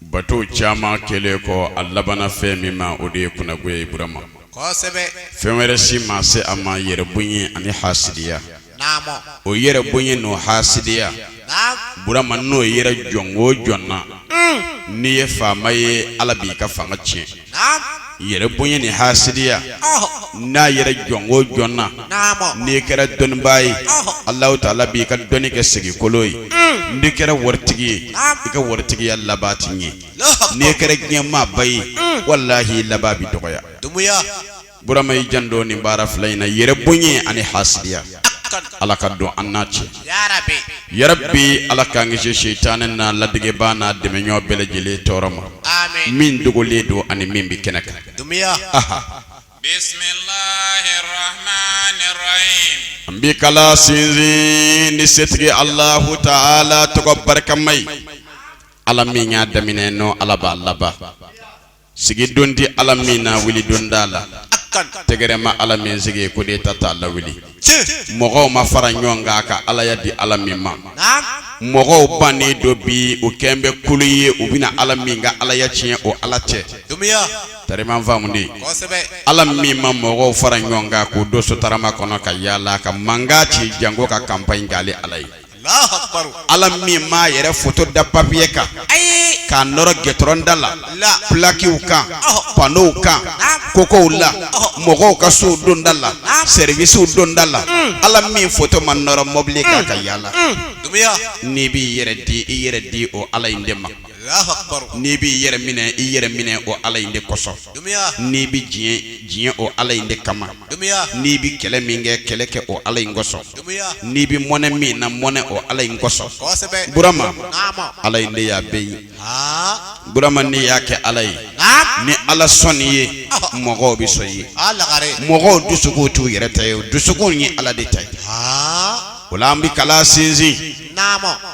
bato caman kɛlen kɔ a labanna fɛn min ma o de ye kunnago ye burama fɛn wɛrɛ si ma se a ma yɛrɛ bonya ani hasidiya o yɛrɛ bonya n'o hasidiya burama n'o yera jɔn o jɔn na n'i ye faama ye ala b'i ka fanga tiɲɛ yɛrɛ bonya ni hasidiya n'a yera jɔn o jɔn na n'i kɛra dɔnnibaa ye Alahu taala b'i ka dɔnni kɛ segikolo ye mm. n'i kɛra waritigi ye i ka waritigiya laban tɛ ɲɛ n'i kɛra diɲɛmaaba ye mm. walahi i laban bɛ dɔgɔya. burama i janto nin baara fila in na yɛrɛ bonya ani hasidiya ala ka don an n'a cɛ ya rabi ala k'an kisi seitanɛ n'a ladegebaa n'a dɛmɛɲɔgɔn bɛɛ lajɛlen tɔɔrɔ ma min dogolen don ani min bɛ kɛnɛ kan an bɛ kala sinsin ni setigi alahu taala tɔgɔ barikama ye ala min y'a daminɛ n'o ala b'a laban sigidon tɛ ala min na wulidon t'a la tɛgɛrɛ ma ala min sigi kudeta t'a lawuli mɔgɔw ma fara ɲɔgɔn kan ka alaya di ala min ma mɔgɔw bannen don bi u kɛlen bɛ kulu ye u bɛna ala min ka alaya tiɲɛ o ala tɛ tari i ma n faamu de ala min ma mɔgɔw fara ɲɔgɔn kan k'o don sotarama kɔnɔ ka yaala ka mankan ci janko ka kanpaɲi k'ale ala ye ala min m'a yɛrɛ foto da papiye kan k'a nɔrɔ gɛtɔrɔn da la pulakiw kan panow kan kogow la mɔgɔw ka sow donda la sɛriwisiw donda la ala min foto ma nɔrɔ mɔbili kan ka yaala n'i b'i yɛrɛ di i yɛrɛ di o ala in de ma n'i b'i yɛrɛ minɛ i yɛrɛ minɛ o ala in de kosɔn n'i bɛ diɲɛ diɲɛ o ala in de kama n'i bɛ kɛlɛ min kɛ kɛlɛ kɛ o ala in kosɔn n'i bɛ mɔnɛ min na mɔnɛ o ala in kosɔn burama ala in de y'a bɛɛ ye burama n'i y'a kɛ ala ye ni ala sɔnn'i ye mɔgɔw bɛ sɔn i ye mɔgɔw dusukun t'u yɛrɛ ta ye dusukun ye ala de ta ye o la an bɛ kala sinsin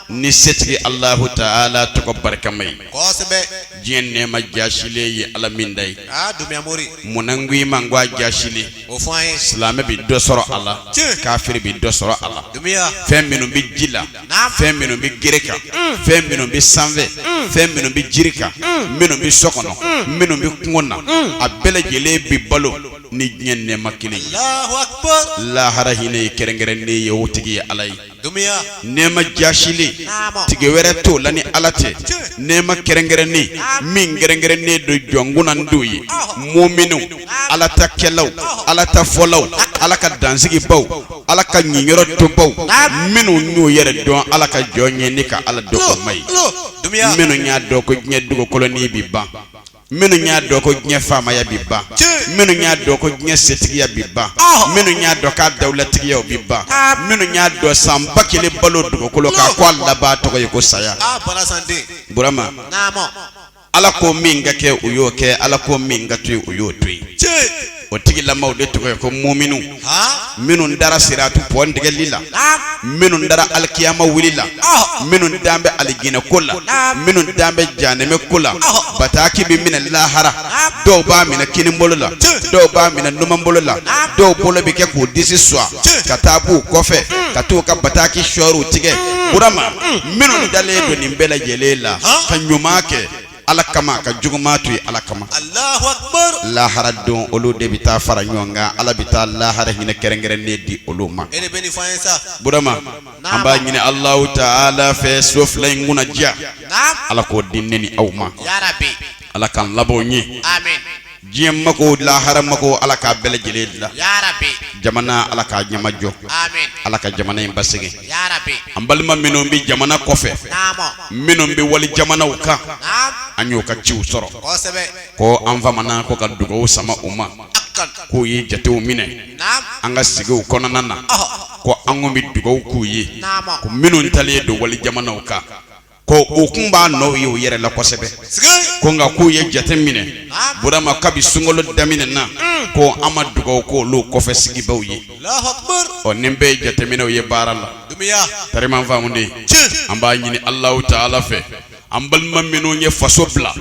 ni setigi alahu taala tɔgɔ barikama ye diɲɛ nɛɛma jaasilen ye ala min ta ye munna n ko i ma n ko a jaasilen silamɛ bɛ dɔ sɔrɔ a la kafiri bɛ dɔ sɔrɔ a la fɛn minnu bɛ ji la fɛn minnu bɛ gere kan mm. fɛn minnu bɛ sanfɛ mm. fɛn minnu bɛ jiri kan mm. minnu bɛ so kɔnɔ minnu bɛ kungo na a bɛɛ lajɛlen bɛ balo ni diɲɛ nɛma kelen ye lahara hinɛ ye kɛrɛnkɛrɛnnen ye o tigi ye ala ye nɛma jasilen tigi wɛrɛ t'o la ni ala tɛ nɛma kɛrɛnkɛrɛnnen min kɛrɛnkɛrɛnnen don jɔn kunnandiw ye muminu ala ta kɛlaw ala ta fɔlaw ala ka dansigi baw ala ka niyɔrɔ to baw minnu y'u yɛrɛ dɔn ala ka jɔn ye ni ka ala dɔn k'u ma ye minnu y'a dɔn ko diɲɛ dugukolo in bɛ ban minnu y'a dɔn ko diɲɛ faamaya bi ban minnu y'a dɔn ko diɲɛ setigiya bi ban minnu y'a dɔn k'a dawulatigiya bi ban minnu y'a dɔn san ba kelen balo dugukolo kan ko a laban tɔgɔ ye ko saya burama ala ko min ka kɛ u y'o kɛ ala ko min ka to yen u y'o to yen o tigilamaw de tɔgɔ ye ko muminu minnu dara siratu pɔn tigɛli la minnu dara alikiyama wuli la minnu dan bɛ alijinɛ ko la minnu dan bɛ janɛmɛ ko la bataki bɛ minɛ lahara dɔw b'a minɛ kinibolo la dɔw b'a minɛ numanbolo la dɔw bolo bɛ kɛ k'u disi suwa ka taa b'u kɔfɛ ka t'u ka bataki sɔri u tɛgɛ burama minnu dalen don nin bɛɛ lajɛlen la ka ɲuman kɛ ala kama ka juguman to yen ala kama Allahu akbar lahara don olu de bɛ taa fara ɲɔgɔn kan ala bɛ taa lahara hinɛ kɛrɛnkɛrɛnnen di olu ma e de bɛ nin fɔ an ye sa burama an b'a ɲini alahu taala fɛ so fila in kunnadiya naam ala k'o di ne ni aw ma yarabi ala k'an laban ɲɛ amin diɲɛ mako lahara mako ala k'a bɛɛ lajɛlen dilan yarabi jamana ala k'a ɲɛma jɔ amin ala ka jamana in basigi yarabi an balima minnu bɛ jamana kɔfɛ naamɔ minnu bɛ wali jamanaw kan naam an y'u ka ciw sɔrɔ kosɛbɛ ko an famana ko ka dugawu sama u ma akan k'u ye jatew minɛ naam an ka sigiw kɔnɔna na ɔhɔ ko an kun bɛ dugawu k'u ye naamɔ ko minnu taalen don wali jamanaw kan ko u kun b'a nɔw ye u yɛrɛ la kosɛbɛ ko nka k'u ye jate minɛ burama kabi sunkalo daminɛ na mm. ko an ma dugawu ko olu kɔfɛ sigibaw ye ɔ nin bɛɛ ye jateminɛw ye baara la tariman faamunden an b'a ɲini alahu taala fɛ an balima minnu ye faso bila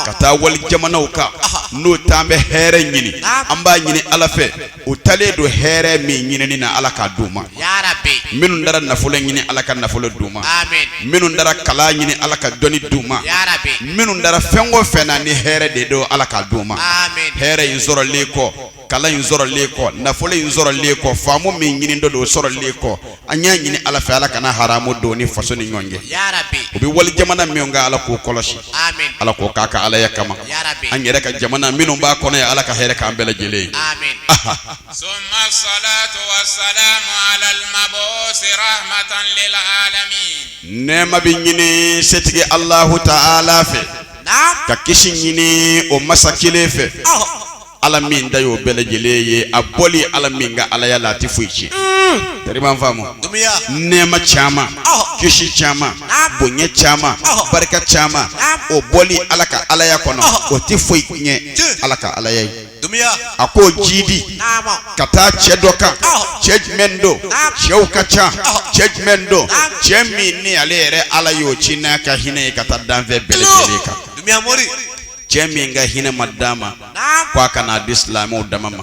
ka taa wali jamanaw kan n'o taa an bɛ hɛrɛ ɲini an b'a ɲini ala fɛ u taalen don hɛrɛ min ɲinini na ala k'a d'u ma minnu taara nafolo ɲini ala ka nafolo d'u ma minnu taara kalan ɲini ala ka dɔnni d'u ma minnu taara fɛn o fɛn na ni hɛrɛ de don ala k'a d'u ma hɛrɛ in sɔrɔlen kɔ kalan in sɔrɔlen kɔ nafolo in sɔrɔlen kɔ faamu min ɲinitɔ don o sɔrɔlen kɔ an y'a ɲini ala fɛ ala kana haramu don u ni faso ni ɲɔgɔn cɛ u bɛ wali jamana min kan ala k'o kɔlɔsi ala k'o k'a ka alaya kama an yɛrɛ ka jamana minnu b'a kɔnɔ yan ala ka hɛrɛ k'an bɛɛ lajɛlen ye nɛɛma bɛ ɲini setigi alahu taala fɛ ka kisi ɲini o masa kelen fɛ ala min da y'o bɛɛ lajɛlen ye a bɔli ala min ka alaya la a tɛ foyi tiɲɛ tariman faamu nɛɛma caman kisi caman bonya caman barika caman o bɔli ala ka alaya kɔnɔ o tɛ foyi tiɲɛ ala ka alaya ye a ko jidi ka taa cɛ dɔ kan cɛ jumɛn don cɛw ka ca cɛ jumɛn don cɛ min ni ale yɛrɛ ala y'o ci n'a ka hinɛ ye ka taa danfɛn bɛɛ lajɛlen kan cɛ min ka hinɛ ma d'a ma ko a kana di silamɛw dama ma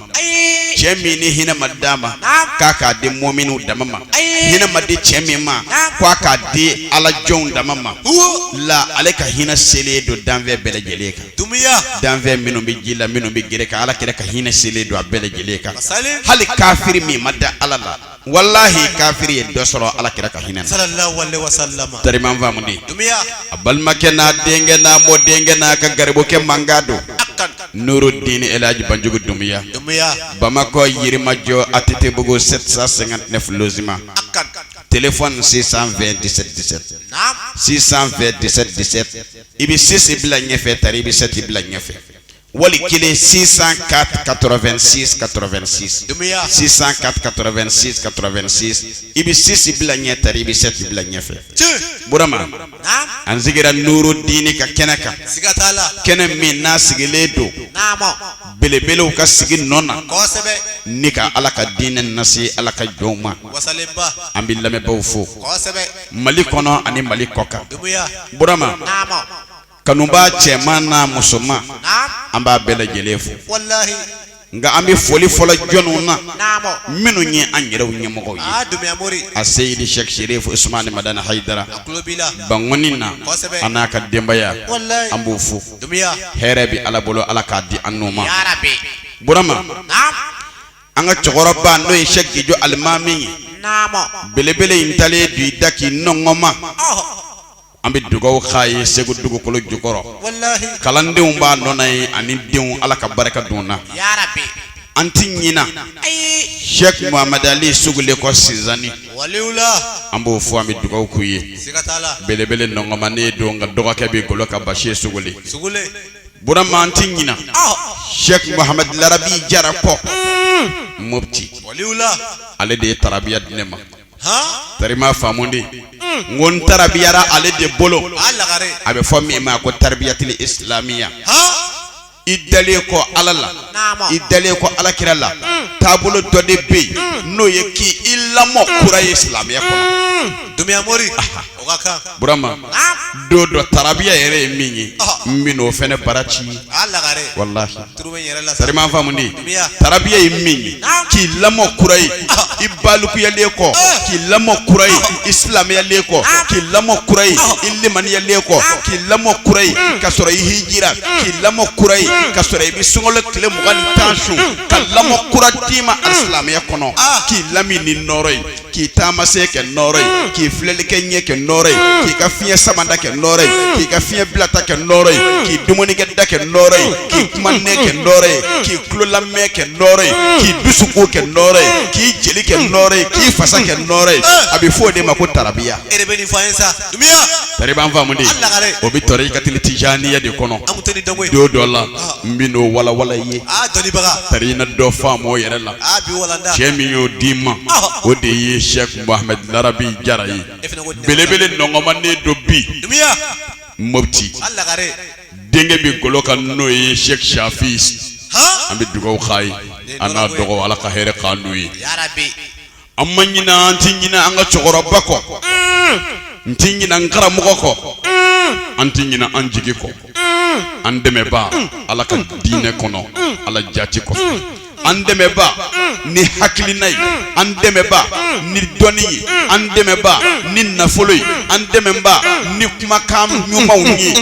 cɛ min ni hinɛ ma d'a ma k'a k'a di mɔminiw dama ma hinɛ ma di cɛ min ma ko a k'a di alajɔnw dama ma la ale ka hinɛ selen don danfɛn bɛɛ lajɛlen kan dumiya danfɛn minnu bɛ ji la minnu bɛ gere kan ala kira ka hinɛ selen don a bɛɛ lajɛlen kan hali kafiri min ma da ala la walahi kafiri ye dɔ sɔrɔ ala kira ka hinɛ na tariman faamuden a balimakɛ n'a denkɛ n'a mɔdenkɛ n'a ka garibukɛ mankan don nuru diini elaji banjugu dumiya bamakɔ yirimajɔ atetebugu 759 logement téléphone 620 17 17 620 17 17 i bɛ sisi bila ɲɛfɛ tari i bɛ sɛti bila ɲɛfɛ wali kelen 604 86 86 604 86 86 i bɛ sisi bila ɲɛ tari i bɛ sɛti bila ɲɛfɛ burama an sigira nuru diini ka kɛnɛ kan kɛnɛ min n'a sigilen don belebelew ka sigi nɔ na ni ka ala ka diinɛ nase ala ka jɔnw ma an bɛ lamɛnbaaw fo mali kɔnɔ ani mali kɔkan burama Kanubaa cɛman n'a musoman an b'a bɛɛ lajɛlen fo nka an bɛ foli fɔlɔ jɔnw na minnu ye an yɛrɛw ɲɛmɔgɔ ye aseyidi sɛki serifu usumani madani hayidara bankɔni na a n'a ka denbaya an b'o fo hɛrɛ bɛ ala bolo ala k'a di an n'u ma burama an ka cɛkɔrɔba n'o ye sɛki gijo alimami ye belebele in taalen don i da k'i nɔnkɔnma an bɛ dugawu k'a ye segu dugukolo jukɔrɔ kalandenw b'a nɔ na ye ani denw ala ka barika don na an tɛ ɲina sɛki mahamadu ali sugule kɔ sinsani an b'o fo an bɛ dugawu k'u ye belebele nɔnkɔnmanen don nka dɔgɔkɛ bɛ golo kan basiri sugule burama an tɛ ɲina sɛki mahamadu larabi jara kɔ mɔti ale de ye tarabiya di ne ma tariman faamuden n ko n tarabiyara ale de bolo a bɛ fɔ min ma ko taribiyatili isilamiya i dalen kɔ ala la i dalen kɔ ala kira la taabolo dɔ de bɛ yen n'o ye k'i i lamɔ kura ye silamɛya kɔnɔ dumbuya mori burama don dɔ tarabiya yɛrɛ ye min ye n bɛ n'o fɛnɛ bara ci walahi tariban famundi tarabiya ye min ye k'i lamɔ kura ye i balikuyalen kɔ k'i lamɔ kura ye i silamɛyalen kɔ k'i lamɔ kura ye i limaniyalen kɔ k'i lamɔ kura ye ka sɔrɔ i hijira k'i lamɔ kura ye ka sɔrɔ i bɛ sunkalo tile mugan ni tan sun ka lamɔ kura d'i ma a silamɛya kɔnɔ k'i lamini nɔɔrɔ ye. k'i taama sen kɛ nɔɔrɔ ye mm. k'i filɛli kɛ ɲɛ kɛ nɔɔrɔ ye mm. k'i ka fiɲɛ sama da kɛ nɔɔrɔ ye mm. k'i ka fiɲɛ bila da kɛ nɔɔrɔ ye k'i dumunikɛ da kɛ nɔɔrɔ ye k'i kuma nɛn kɛ nɔɔrɔ ye k'i tulo lamɛn kɛ nɔɔrɔ ye k'i dusukun kɛ nɔɔrɔ ye k'i jeli kɛ nɔɔrɔ ye k'i fasa kɛ nɔɔrɔ ye a bɛ fɔ o de ma ko tarabiya. e de bɛ nin fɔ an ye sa dumiya. tariban famundi o bɛ torikatili tijaniya de kɔnɔ don dɔ la ah. n bɛ n'o walawala i ye ah, tari na dɔ faamu o yɛrɛ la. cɛ min y'o d'i ma o de ye sɛk muhamɛd larabi jara ye belebele nɔgɔmanen don bi mufti denkɛ bɛ golo kan n'o ye sɛk shafi an bɛ dugawu k'a ye a n'a dɔgɔ ala ka hɛrɛ k'an n'o ye an ma ɲina an tɛ ɲina an ka cɛkɔrɔba kɔ n tɛ ɲina n karamɔgɔ kɔ an tɛ ɲina an jigi kɔ an dɛmɛba ala ka diinɛ kɔnɔ ala jati kɔ an dɛmɛba ni hakilina ye an dɛmɛba ni dɔnni ye an dɛmɛba ni nafolo ye an dɛmɛba ni kumakan ɲumanw ye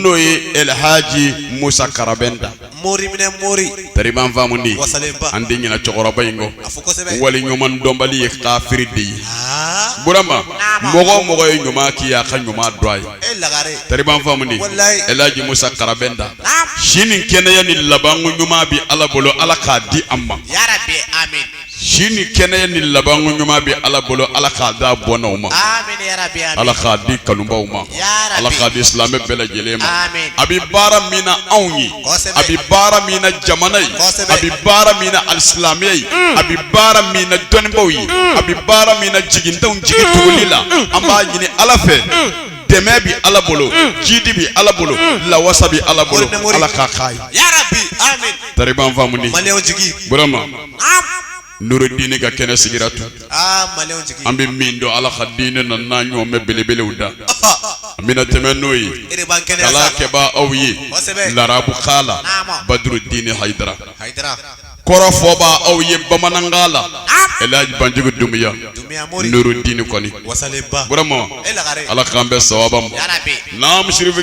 n'o ye elhaji musa karabɛnta mori minɛ mori tariban famundi wasalenba an tɛ ɲina cɛkɔrɔba in kɔ a fɔ kosɛbɛ wali ɲuman dɔnbali ye kafiri de ye aa burama mɔgɔ o mɔgɔ ye ɲuman k'i ye a ka ɲuman dɔn a ye e lagare tariban famundi Walayi. elaji musa karabɛnta si ni kɛnɛya ni labanko ɲuman bi ala bolo ala k'a di an ma yarabi amin si ni kɛnɛya ni labanko ɲuman bɛ ala bolo ala k'a d'a bɔnnaw ma ala k'a di kanubaw ma ala k'a di silamɛ bɛɛ lajɛlen ma a bɛ baara min na anw ye a bɛ baara min na jamana ye a bɛ baara min na alisilamɛya ye mm. a bɛ baara min na dɔnnibaw ye mm. a bɛ baara min na jigintanw jigi mm. tuguli la an b'a ɲini ala fɛ dɛmɛ bɛ ala bolo jidi bɛ ala bolo lawasa bɛ ala bolo ala k'a k'a ye tariban famundi burama Nuru diinɛ ka kɛnɛ sigira tun an bɛ min don ala ka diinɛ na n'a ɲɔgɔn mɛn belebelew da an bɛna tɛmɛ n'o ye kalankɛba aw ye larabukan la badurudini hayidara kɔrɔfɔba aw ye bamanankan la elhaji banjugu dumiya nuru diinɛ kɔni burama ala k'an bɛn sawaba ma naamu sirife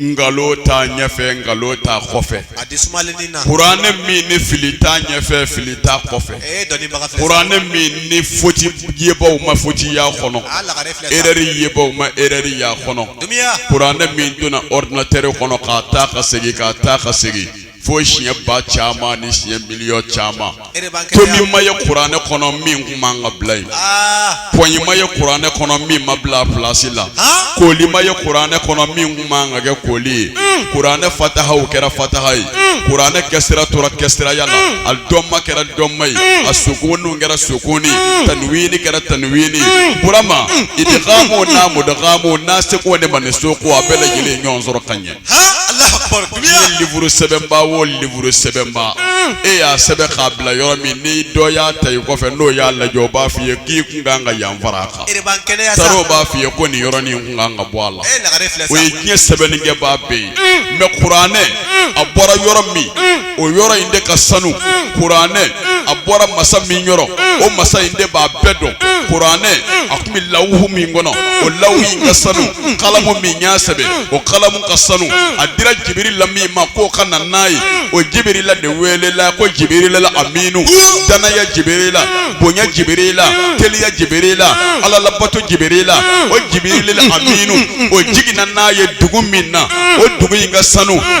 nkalon t'a ɲɛfɛ nkalon t'a kɔfɛ kuranɛ min ni fili t'a ɲɛfɛ fili t'a kɔfɛ kuranɛ min ni foti yebaw ma foti y'a kɔnɔ erɛri yebaw ma erɛri y'a kɔnɔ kuranɛ min donna ɔridinatɛri kɔnɔ ka taa ka segin ka taa ka segin fo siɲɛ ba caman ni siɲɛ miliyɔn caman tomi ma ye kuranɛ kɔnɔ min kun man ka bila yen ah. pɔnyi ma ye kuranɛ kɔnɔ min ma bila pilasi la ah. kooli ma ye kuranɛ kɔnɔ min kun man ka kɛ kooli ye hmm. kuranɛ fatahaw kɛra fataha ye hmm. kuranɛ kasira tora kasiraya la hmm. a dɔmma kɛra dɔmma ye a sukunuw kɛra sukuni tanwiini kɛra tanwiini burama idghamu n'a mudghamu nasiku ni mansuku a bɛɛ lajɛlen ɲɔgɔn sɔrɔ ka ɲɛ liburu sɛbɛnba wo liburu sɛbɛnba e y'a sɛbɛn k'a bila yɔrɔ min ni dɔ y'a ta i kɔfɛ n'o y'a lajɛ o b'a f'i ye k'i kun kan ka yan fara a kan tari o b'a f'i ye ko nin yɔrɔnin in kun kan ka bɔ a la o ye diɲɛ sɛbɛnnikɛbaa bɛɛ ye mɛ kuranɛ a bɔra yɔrɔ min o yɔrɔ in de ka sanu kuranɛ a bɔra masa min yɔrɔ o masa in de b'a bɛɛ dɔn kuranɛ a kun bɛ lawuhu min kɔnɔ o lawuhu in ka sanu kalamu min y'a sɛbɛn o kalamu ka sanu a dira jibirila min ma k'o ka na n'a ye o jibirila de weelela ko jibirila aminu danaya jibirila bonya jibirila teliya jibirila ala labato jibirila o jibirila aminu o jiginna n'a ye dugu min na o dugu in ka sanu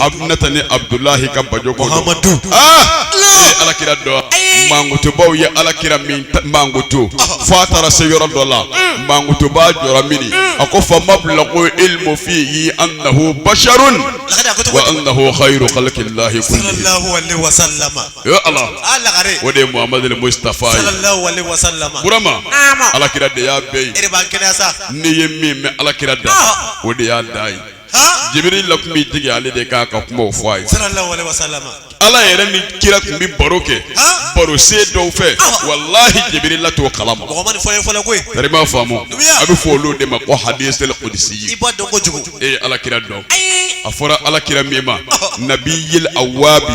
aminata ni abudulahi ka bajo ko amadu e ye ala kira dɔn mankutubaw ye ala kira min mankutu fo a taara se yɔrɔ dɔ la mm. mankutuba jɔra mini mm. a ko fa mablaghu ilmu fihi annahu basharun wa annahu khayru khalqillahi kullihi ya ala o de ye muhammadu mustafa ye burama ala kira de y'a bɛɛ ye n'i ye min mɛn ala kira da ah. o de y'a da ye jibirila kun bɛ jigin ale de k'a ka kumaw fɔ a ye ala yɛrɛ ni kira tun bɛ baro kɛ baro sen dɔw fɛ walahi jibirila t'o kala ma tari m'a faamu a bɛ fɔ olu de ma ko hadisul qudsi e ye ala kira dɔn a fɔra ala kira min ma nabiyil awabi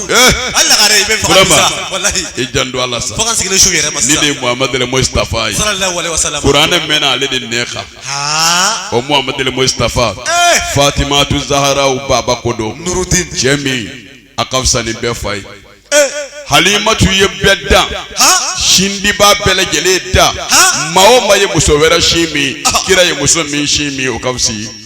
i janto ala sa ni de muhamadu mustafa ye kuranɛ mɛnna ale de nɛn kan o muhamadu mustafa fatimatu zahara u baba ko don cɛ min a ka fisa ni bɛɛ fa ye halimatu ye bɛɛ dan sindiba bɛɛ lajɛlen dan maa o maa ye muso wɛrɛ sin min kira ye muso min sin min o ka fisa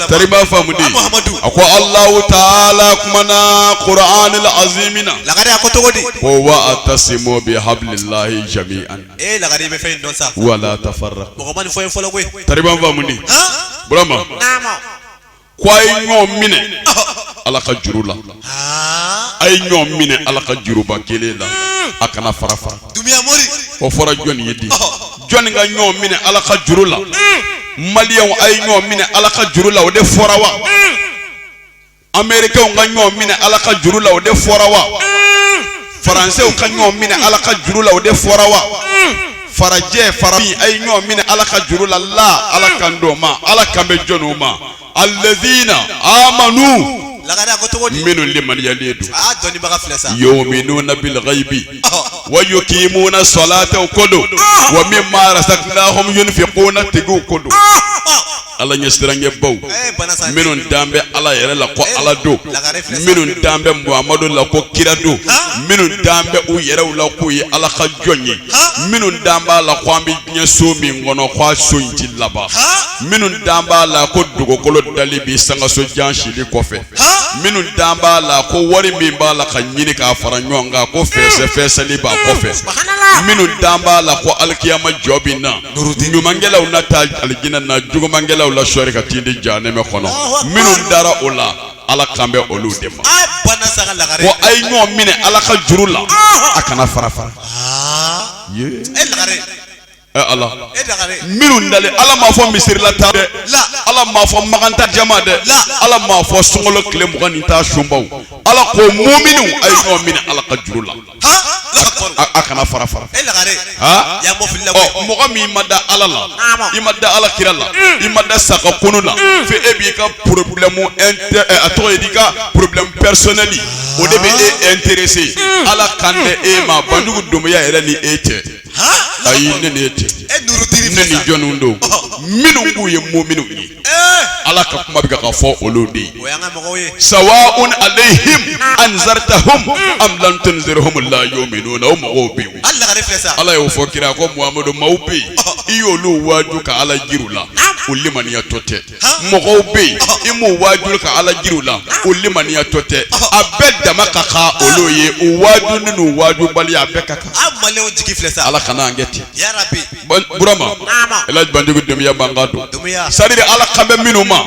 tari b'a faamu de Muhammadu a ko Alahu taala kumana Qur'anil azimi na lagare a ko cogo di ko wa atasimu bi hablillahi jami'an ee lagare i bɛ fɛn in dɔn sa wala tafarraqu mɔgɔ ma nin fɔ ye fɔlɔ koyi tari b'a faamu de burama naamu ko a ye ɲɔgɔn minɛ Ala ka juru la a ye ɲɔgɔn minɛ ala ka juruba kelen la a kana fara fara o fɔra jɔnni ye di jɔnni ka ɲɔgɔn minɛ ala ka juru la maliyɛnw a ye ɲɔgɔn minɛ ala ka juru la o de fɔra wa amerikɛnw ka ɲɔgɔn minɛ ala ka juru la o de fɔra wa faransɛw ka ɲɔgɔn minɛ ala ka juru la o de fɔra wa farajɛ farafin a ye ɲɔgɔn minɛ ala ka juru la la ala kan t'o ma ala kan bɛ jɔn ma alladhina amanu lagare a ko cogo di minnu limaniyalen don aa dɔnnibaga filɛ sa yu'minuna bilghaibi wa yuqimuna salata o ko don wa mimma razaqnahum yunfiquna tigiw ko don ala ɲɛsiranɲɛbaw ee bana sa minnu dan bɛ ala yɛrɛ la ko ala don lagare filɛ sa minnu dan bɛ muhamadu la ko kira don minnu dan bɛ u yɛrɛw la k'u ye ala ka jɔn ye minnu dan b'a la ko an bɛ diɲɛ so min kɔnɔ k'a so in ti laban minnu dan b'a la ko dugukolo dali bi sankanso jan sigili kɔfɛ minnu dan b'a la ko wari min b'a la ka ɲini k'a fara ɲɔgɔn kan ko fɛsɛfɛsɛli b'a kɔfɛ minnu dan b'a la ko alikiyama jɔ bi na ɲumankɛlaw na taa alijinɛ na jugumankɛlaw la sɔɔri ka t'i di jahanɛmɛ kɔnɔ minnu dara o la Ala kan bɛ olu de ma. A banna sa ka lagare. Ko a ye ɲɔgɔn minɛ Ala ka juru la. Ɔnhɔn. A kana fara fara. Aa. Yee. E lagare. Ɛ Ala. E lagare. Minnu dalen Ala m'a fɔ misirilataa dɛ. La. Ala m'a fɔ Makan taa jama dɛ. La. Ala m'a fɔ sunkalo tile mugan ni tan sunbaw. Ala ko muminiw a ye ɲɔgɔn minɛ Ala ka juru la. a kana fara fara e lagare aa ya mɔfili la ɔ mɔgɔ min ma da ala la i ma da ala kira la i ma da sa ka kunu la fo e b'i ka problème inter a tɔgɔ ye di i ka problème personnel o de bɛ e intéresser ala kan tɛ e ma banjugu dumbiya yɛrɛ ni e tɛ ayi ne ni e tɛ e nurutiri ne ni jɔnniw don minnu k'u ye muminu ye ala ka kuma bɛ ka fɔ olu de ye sawa'un alayhim anzartahum am lam tunzirhum la yu'minun o mɔgɔw bɛ yen ala y'o fɔ kira ko muhamadu maaw bɛ yen i y'olu waaju ka ala jir'u la o limaniyatɔ tɛ mɔgɔw bɛ yen i m'u waaju ka ala jir'u la o limaniyatɔ tɛ a bɛɛ dama ka kan olu ye u waajuni n'u waajubaliya bɛɛ ka kan ala kana an kɛ ten burama ala banjugu dumbiya b'an ka don sariri ala kan bɛ minnu ma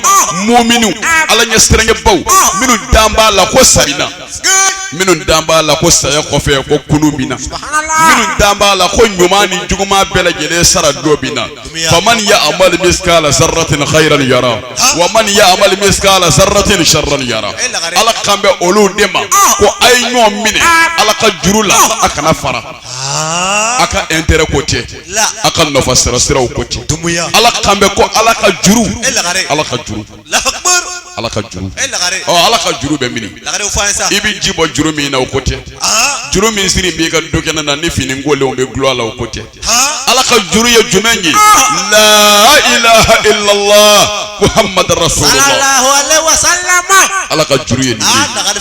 muminu ala ɲɛ siranɲɛbaw minnu dan b'a la ko sa bi na minnu dan b'a la ko saya kɔfɛ ko kunu bɛ na minnu dan b'a la ko ɲuman ni juguman bɛɛ lajɛlen sara dɔ bɛ na faman ya amal miskala zarratin khayran yara wa man ya amal miskala zarratin sharran yara ala kan bɛ olu de ma ko a ye ɲɔgɔn minɛ ala ka juru la a kana fara a ka intérêt ko tɛ a ka nafa sira siraw ko tɛ ala kan bɛ ko ala ka juru ala ka juru ala ka juru ɔ ala ka juru bɛ mini i bɛ ji bɔ juru min na o ko tɛ juru min sirilen b'i ka dukɛnɛ na ni fini kolenw bɛ gulon a la o ko tɛ ala ka juru ye jumɛn ye la ilaha illallah muhammadu rasulullah ala ka juru ye nin ye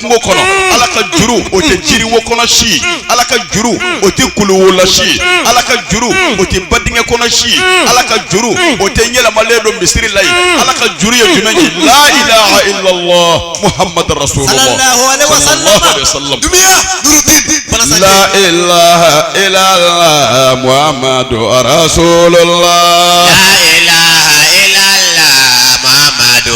kungo kɔnɔ mm. ala ka juru o tɛ mm. jiriwo kɔnɔ si mm. ala ka juru o tɛ kuluwo la si ala ka juru o tɛ badingɛ kɔnɔ si ala ka juru o tɛ yɛlɛmalen don misiri la ye ala ka juru ye jumɛn ye la ilaha illallah muhammadu rasulullah sallallahu alaihi wasallam dunuya nurudin la ilaha illallah muhammadu rasulullah la ilaha illallah muhammadu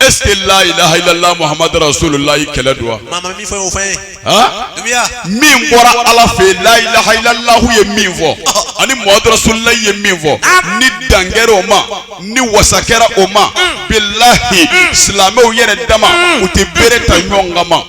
est ce que la ilaha illallah muhammadu rasulullah kɛlɛ don wa. maa ma min fɔ o fɛn ye. dunuya. min bɔra ala fɛ yen la ilaha illallah ye min fɔ ani muhammadu rasulullah ye min fɔ ni dan kɛra o ma ni wasa kɛra o ma bilahi silamɛw yɛrɛ dama u tɛ bere ta ɲɔgɔn kama.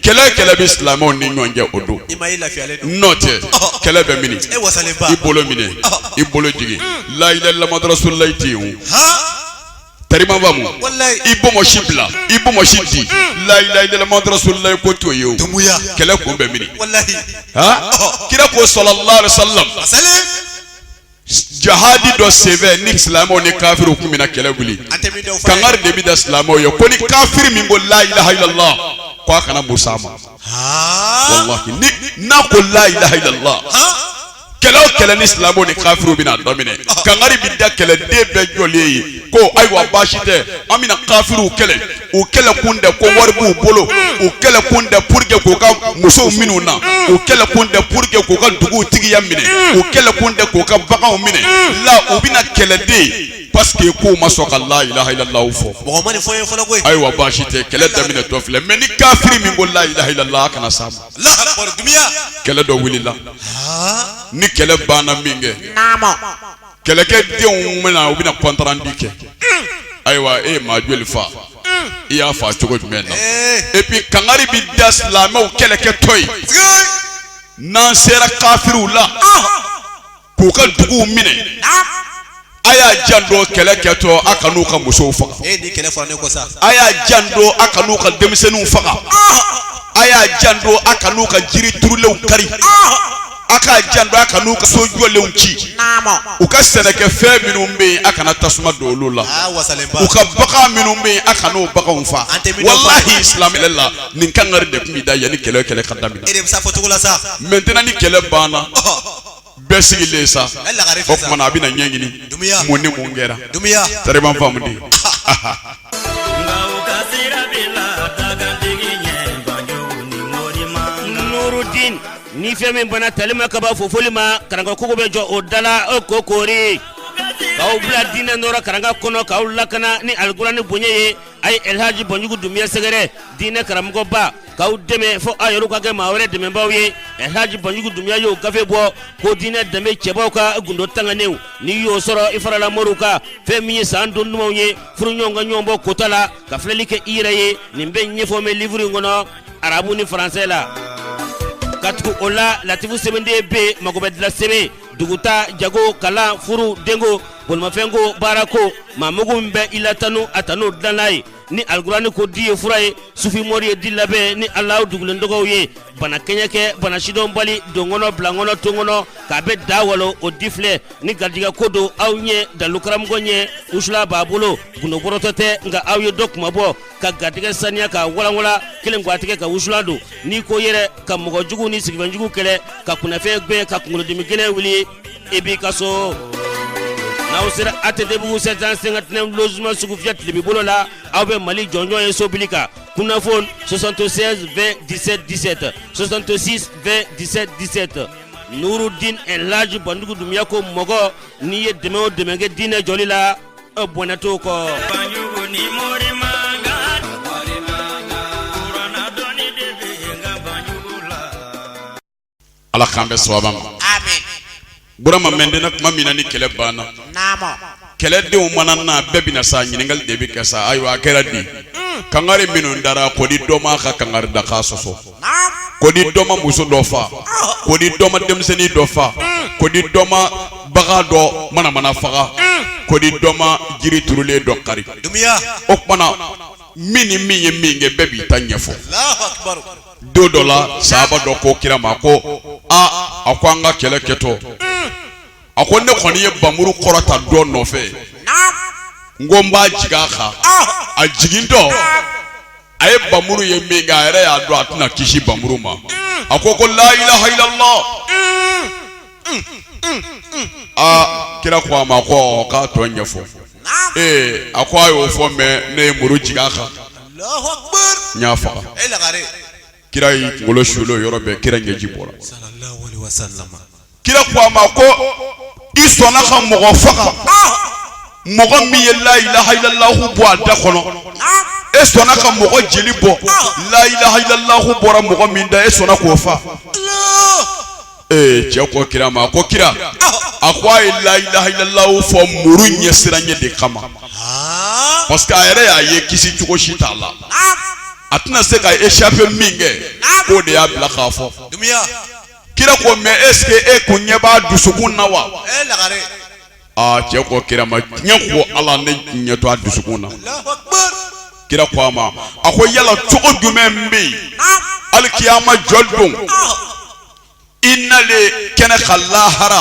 kɛlɛ kɛlɛ bɛ silamɛw ni ɲɔgɔn cɛ o don n'o tɛ kɛlɛ bɛ mini i bolo minɛ i bolo jigin hmm. la ilaha illallah muhammadu rasulullah tɛ yen o tarima bamu i bonbonsi bila i bonbonsi di hmm. la ilaha illallah muhammadu rasulullah ko t'o ye o kɛlɛ kun bɛ mini kira ko sallallahu alaihi wasallam. jahadi dɔ senfɛ ni silamɛw ni kafiriw kun bɛna kɛlɛ wuli kangari de bɛ da silamɛw ye ko ni kafiri min ko la ilaha illallah ko a kana muru s'a ma walahi ni n'a ko la ilaha illallah kɛlɛ o kɛlɛ ni silamɛw ni kafiriw bɛna daminɛ kangari bɛ da kɛlɛden bɛɛ jɔlen ye ko ayiwa baasi tɛ an bɛna kafiriw kɛlɛ u kɛlɛkun tɛ ko wari b'u bolo u kɛlɛkun tɛ pour que k'u ka musow min'u na u kɛlɛkun tɛ pour que k'u ka dugutigiya minɛ u kɛlɛkun tɛ k'u ka baganw minɛ u la u bɛna kɛlɛ de parce que k'u ma sɔn ka la ilaha illallah fɔ mɔgɔ ma nin fɔ ye fɔlɔ koyi ayiwa baasi tɛ kɛlɛ daminɛtɔ filɛ mais ni kafiri min ko la ilaha illallah a kana s'a ma Allahu akbar dunuya kɛlɛ dɔ wulila ni kɛlɛ banna minkɛ naamu kɛlɛkɛ denw bɛ na u bɛna compte rendu kɛ ayiwa e ye maa joli fa i y'a fa cogo jumɛn na epi kangari bɛ da silamɛw kɛlɛkɛtɔ ye n'an sera kafiriw la k'u ka duguw minɛ a y'a janto kɛlɛ kɛtɔ a kan'u ka musow faga a y'a janto a kan'u ka denmisɛnninw faga a y'a janto a kan'u ka jiri turulenw kari a ka janto a kan'u ka so jɔlenw ci u ka sɛnɛkɛfɛn minnu bɛ yen a kana tasuma don olu la ah, u ka bagan minnu bɛ yen a kana o baganw fa walahi islam yɛrɛ la nin kangari de tun bɛ da yanni kɛlɛ kɛlɛ ka daminɛ mɛntɛnɛ ni kɛlɛ banna bɛɛ sigilen sa o kuma na a bɛna ɲɛɲini mun ni mun kɛra tariban faamu dɛ. Ni fɛn min banna tali ma ka ban fofoli ma karanga kogo bɛ jɔ o da la o ko koori k'aw bila diinɛ nɔɔrɔ karanga kɔnɔ k'aw lakana ni alikurani bonya ye a ye alilhaji banjugu dunbiya sɛgɛrɛ diinɛ karamɔgɔba k'aw dɛmɛ fo aw yɛrɛ ka kɛ maa wɛrɛ dɛmɛbaa ye alilhaji banjugu dunbiya y'o gafe bɔ ko diinɛ danbe cɛbaw ka gundo tangannenw n'i y'o sɔrɔ i farala moriw kan fɛn min ye san don dumanw ye furuɲɔgɔn ka ɲɔgɔnbɔ kota la ka filɛli kɛ i yɛrɛ ye nin bɛɛ ɲɛfɔlen bɛ liburu in kɔnɔ arabu ni faransɛ la ka tugu o la latifu sɛbɛnden bɛ yen mago bɛɛ dilan sɛbɛn duguta jago kalan furu denko bolimafɛnko baarako maa mugu min bɛ i la tanu a tanu dilanna ye ni alikurani ko di ye fura ye sufimori ye di labɛn ni ala dogolen tɔgɔw ye bana kɛɲɛ kɛ bana sidɔnbali donkɔnɔ bilankɔnɔ tonkɔnɔ k'a bɛ da walo o di filɛ ni garijɛgɛ ko don aw ɲɛ dalu karamɔgɔ ɲɛ wusulan b'a bolo gundo bɔrɔtɔ tɛ nka aw ye dɔ kunmabɔ ka garijɛgɛ saniya ka walanwa kelen gatigi ka wusulan don ni ko yɛrɛ ka mɔgɔ jugu ni siginfɛ jugu kɛlɛ ka kunfɛn gɛn ka kunkolodimi gɛlɛn wuli e b'i ka so n'aw sera atetebugu sept cent cinquante-neuf logements sugufiyɛ tilebin bolo la aw bɛ mali jɔnjɔn ye so bili kan kunnafoni soixante-seize vingt dix-sept dix-sept soixante-six vingt dix-sept dix-sept nurudin laji banjugu dunbiya ko mɔgɔ n'i ye dɛmɛ o dɛmɛ kɛ diinɛ jɔli la bɔnɛ t'o kɔ ala k'an bɛn sawaba ma burama mɛntɛnan tuma min na ni kɛlɛ banna kɛlɛdenw mana na bɛɛ bɛ na sa ɲininkali de bɛ kɛ sa ayiwa a kɛra di kangari minnu dara ko di dɔ ma ka kangari da ka sɔsɔ ko ni dɔ ma muso dɔ fa ko ni dɔ ma denmisɛnnin dɔ fa ko ni dɔ ma bagan dɔ manamana faga ko ni dɔ ma jiri turulen dɔ kari o tuma na min ni min ye min kɛ bɛɛ b'i ta ɲɛfɔ don dɔ la sahaba dɔ ko kira ma ko aa a ko an ka kɛlɛ kɛtɔ a ko ne kɔni ye bamuru kɔrɔta dɔ nɔfɛ n ko n b'a jigin a kan a jigintɔ a ye bamuru ye min kɛ a yɛrɛ y'a dɔn a tɛna kisi bamuru ma a ko ko la ilaha illallah aa kira ko a ma ko k'a tɔ ɲɛfɔ ee a ko a y'o fɔ mais ne ye muru jigin a kan n y'a faga Kira y'i kunkolo suuli o yɔrɔ bɛɛ kira ɲɛji bɔra kira ko a ma ko i sɔnna ka mɔgɔ faga mɔgɔ min ye la ilaha illallahu bɔ a da kɔnɔ e sɔnna ka mɔgɔ jeli bɔ la ilaha illallahu bɔra mɔgɔ min da e sɔnna k'o faga ee cɛ ko kira ma a ko kira a ko a ye la ilaha illallahu fɔ muru ɲɛsiranɲɛ de kama parce que a yɛrɛ y'a ye kisi cogo si t'a la a tɛna se ka échappé min kɛ k'o de y'a bila k'a fɔ kira ko mais est ce que e kun ɲɛ b'a dusukun na wa aa cɛ ko kira ma diɲɛ ko ala ne ɲɛ tɛ a dusukun na kira ko a ma a ko yala cogo jumɛn bɛ yen alikiyama jɔli don i nalen kɛnɛ kan lahara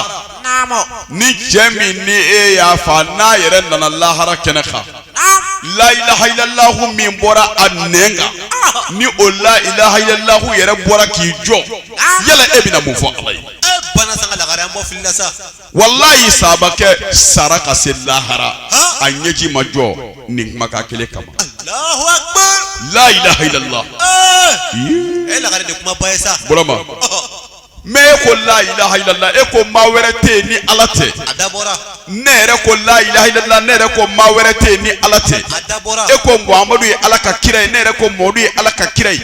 ni cɛ min ni e y'a fa n'a yɛrɛ nana lahara kɛnɛ kan la ilaha illallahu min bɔra a nɛn kan ni o la ilaha illallahu yɛrɛ bɔra k'i jɔ yala e bɛna mun fɔ ala ye walayi sahabakɛ sara ka se lahara a ɲɛji ma jɔ nin kumakan kelen kama. Alahu akibar. La ilaha illallah. Ee. E lagare de kuma ba ye sa. Burama. mais e ko la ilaha illallah e ko maa wɛrɛ tɛ ni ala tɛ a dabɔra ne yɛrɛ ko la ilaha illallah ne yɛrɛ ko maa wɛrɛ tɛ ni ala tɛ a dabɔra e ko muhamadu ye ala ka kira ye ne yɛrɛ ko mɔdu ye ala ka kira ye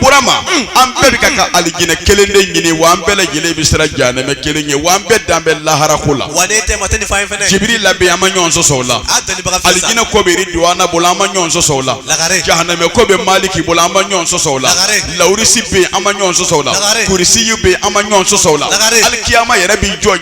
burama an bɛɛ bɛ ka ka alijinɛ kelen de ɲini wa an bɛɛ lajɛlen bɛ siran jahanɛmɛ kelen ɲɛ wa an bɛɛ dan bɛ lahara ko la wa ne tɛ ma tɛ nin fan in fɛnɛ jibirila bɛ yen an ma ɲɔgɔn sɔsɔ o la a dɔnnibaga fɛn san alijinɛ ko bɛ iridiwana bolo an ma ɲɔgɔn sɔsɔ o la Lagare. jahanɛmɛ ko bɛ maliki bolo an ma ɲɔgɔn sɔsɔ o la Lagare. lawurisi bɛ yen an ma ɲɔgɔn sɔsɔ o la Lagare. kurisiyu bɛ yen an ma ɲɔgɔn sɔsɔ o la Lagare. alikiyama yɛrɛ b'i jɔ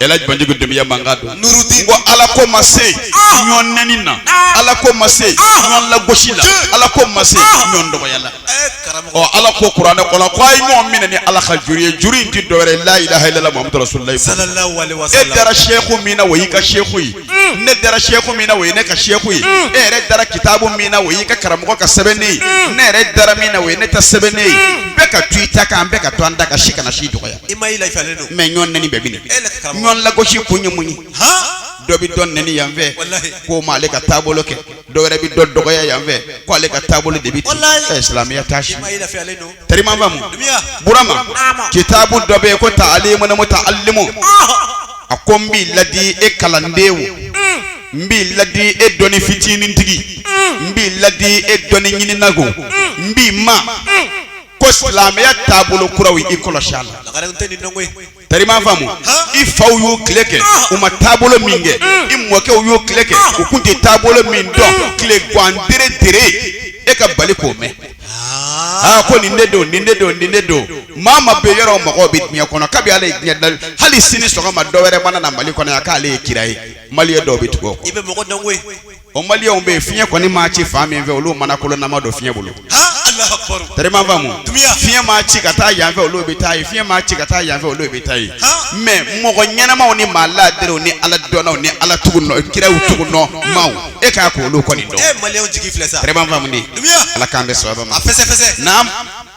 Elhaji Banjugu Dumuya mankan don nurudi ko ala ko ma se ah! ɲɔn nɛni na ah! ala ko ma se ah! ɲɔn lagosi la ala ko ma se ɲɔn dɔgɔya la eh, ɔ ala ko kuranɛ kɔnɔ ko a ye ɲɔgɔn minɛ ni ala ka juru ye juru in ti dɔwɛrɛ la ilaha illallah muhammadu rasulullah e dara seku min na o y'i ka seku ye hmm. ne dara seku min na o ye ne ka seku ye hmm. e yɛrɛ dara kitabu min na o y'i ka karamɔgɔ ka sɛbɛnnen ye hmm. ne yɛrɛ dara min na o ye ne ta sɛbɛnnen ye bɛɛ ka to i ta kan bɛɛ ka to an ta kan si kana si dɔgɔya i ma i la ifalen don mais ɲɔn nɛni bɛɛ bi nin e la ka karamɔgɔ ɲɔn lagosi kun ye mun ye han dɔ bi dɔ nɛni yan fɛ Walahi. k'o ma ale ka taabolo kɛ dɔ wɛrɛ bi dɔ dɔgɔya yan fɛ ko ale ka taabolo de bi ten Walahi. ɛ silamɛya t'a si i ma i la fiyalen don tari m'a faamu Dumuya. burama Naama. kitabu dɔ bɛ yen ko ta'alimul muta'allimu a ko n b'i ladi e kalanden wo n b'i ladi e dɔnni fitinin tigi n b'i ladi e dɔnni ɲinina ko n b'i ma ko silamɛya taabolo kuraw i kɔlɔsi a la tari m'a faamu i faw y'u tile kɛ u ma taabolo min kɛ i mɔkɛw y'u tile kɛ u kun tɛ taabolo min dɔn tile gan dere dere e ka bali k'o mɛn aa ko nin de don nin de don nin de don maa ma bɛ yɔrɔ mɔgɔw bɛ diɲɛ kɔnɔ kabi ala ye diɲɛ dali hali sini sɔgɔma dɔ wɛrɛ mana na mali kɔnɔ yan k'ale ye kira ye maliyɛn dɔw bɛ tugu o kɔ i bɛ mɔgɔ dɔn koyi o maliyɛnw bɛ yen fiɲɛ kɔni maa ci fan min fɛ olu mana kolonama don fiɲɛ bolo tari m'a faamu fiɲɛ maa ci ka taa yanfɛ olu bɛ taa ye fiɲɛ maa ci ka taa yanfɛ olu bɛ taa ye mais mɔgɔ ɲɛnamaw ni maa laadirew ni ala dɔnnaw ni ala tugu nɔ kiraw tugu nɔ maaw e k'a ko olu kɔni dɔn tari m'a faamu de ala k'an bɛɛ sɔrɔ ma naam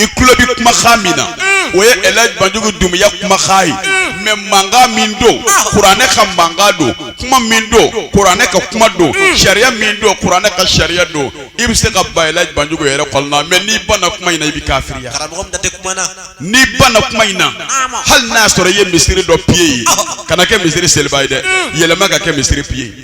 i tulo bɛ kumakan min na mm. o ye Elhaji Banjugu Dumuya kumakan ye mm. mais mankan min don ah. kuranɛ ka mankan don kuma min don kuranɛ ka kuma don mm. sariya min don kuranɛ ka sariya don i bɛ se ka ban Elhaji Banjugu yɛrɛkun na mais n'i banna kuma in na i bɛ kafiriya n'i banna kuma in na hali n'a sɔrɔ i ye misiri dɔ piye ye ah. kana kɛ misiri seliba ye dɛ yɛlɛma ka kɛ misiri piye ye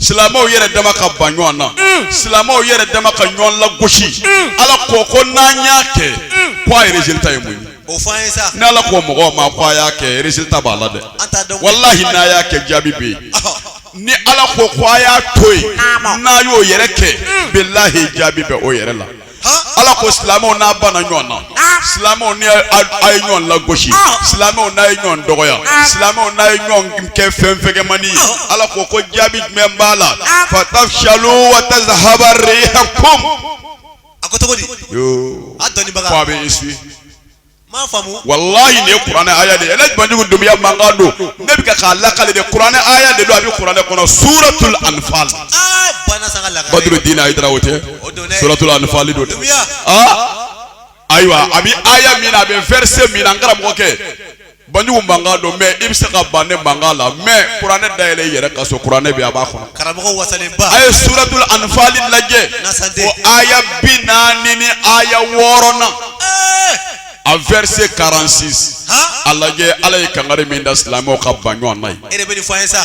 silamɛw yɛrɛ dama ka ban ɲɔgɔn na mm. silamɛw yɛrɛ dama ka ɲɔgɔn lagosi mm. ala ko ko n'an y'a kɛ mm. ko a résultat ye mun ye o fɔ an ye sa ni ala ko mɔgɔw ma ko a y'a kɛ résultat b'a la dɛ walahi n'a y'a kɛ jaabi bɛ yen ni ala ko ko a y'a to yen n'a y'o yɛrɛ kɛ bilahi jaabi bɛ o yɛrɛ la ala ko silamɛw n'a banna ɲɔgɔn na ah. silamɛw ni a ye ɲɔgɔn lagosi ah. silamɛw n'a ye ɲɔgɔn dɔgɔya ah. silamɛw n'a ye ɲɔgɔn kɛ fɛn fɛgɛmani ye ala ko ko jaabi jumɛn b'a la fatafshalu wa tazhaba rihakum a ko cogo di a dɔnnibaga ko a bɛ échouer walayi nin ye kuranɛ aya de ye ale banjugu dumuya mankan don ne bɛ ka k'a lakale de kuranɛ aya de don a bɛ kuranɛ kɔnɔ suratul anfal badrudin ayidara o tɛ suratul anfal don dɛ ayiwa a bɛ aya min na a bɛ verset min na n karamɔgɔ kɛ banjugu mankan don mais i bɛ se ka ban ne mankan la mais kuranɛ dayɛlɛ i yɛrɛ ka so kuranɛ bɛ a b'a kɔnɔ. karamɔgɔ wasalenba. a ye suratul anfali lajɛ. nasante. o aya bi naani ni aya wɔɔrɔ na. Eh! a verset 46. a lajɛ ala ye kangari min da silamɛw ka ban ɲɔgɔn na ye. e de bɛ nin fɔ an ye sa.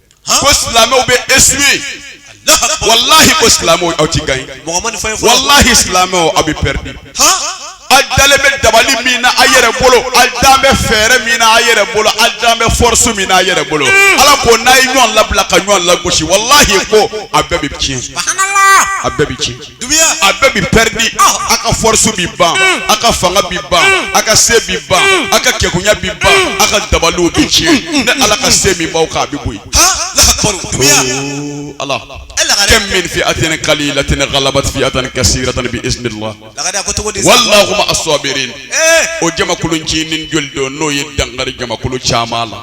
ko silamɛw bɛ échouer walahi ko silamɛw aw ti gagner walahi silamɛw aw bɛ perdre aw dalen bɛ dabali min na a yɛrɛ bolo aw dan bɛ fɛɛrɛ min na a yɛrɛ bolo aw dan bɛ force min na a yɛrɛ bolo hmm. ala ko n'a ye ɲɔgɔn labila ka ɲɔgɔn lagosi walahi ko a bɛɛ bɛ tiɲɛ a bɛɛ bɛ tiɲɛ. a bɛɛ bi perdre a ka force bi ban a ka fanga bi ban a ka se bi ban a ka kɛkunya bi ban a ka dabaliw bi tiɲɛ ne ala ka se min b'aw kan a bi bɔ yen. ala kam min fi'atin kalilatin galabat fi'atan kasiratan bi iznillah wallahu ma'a sabirin o jamakulu ncinin joli don n'o ye dankari jamakulu caman la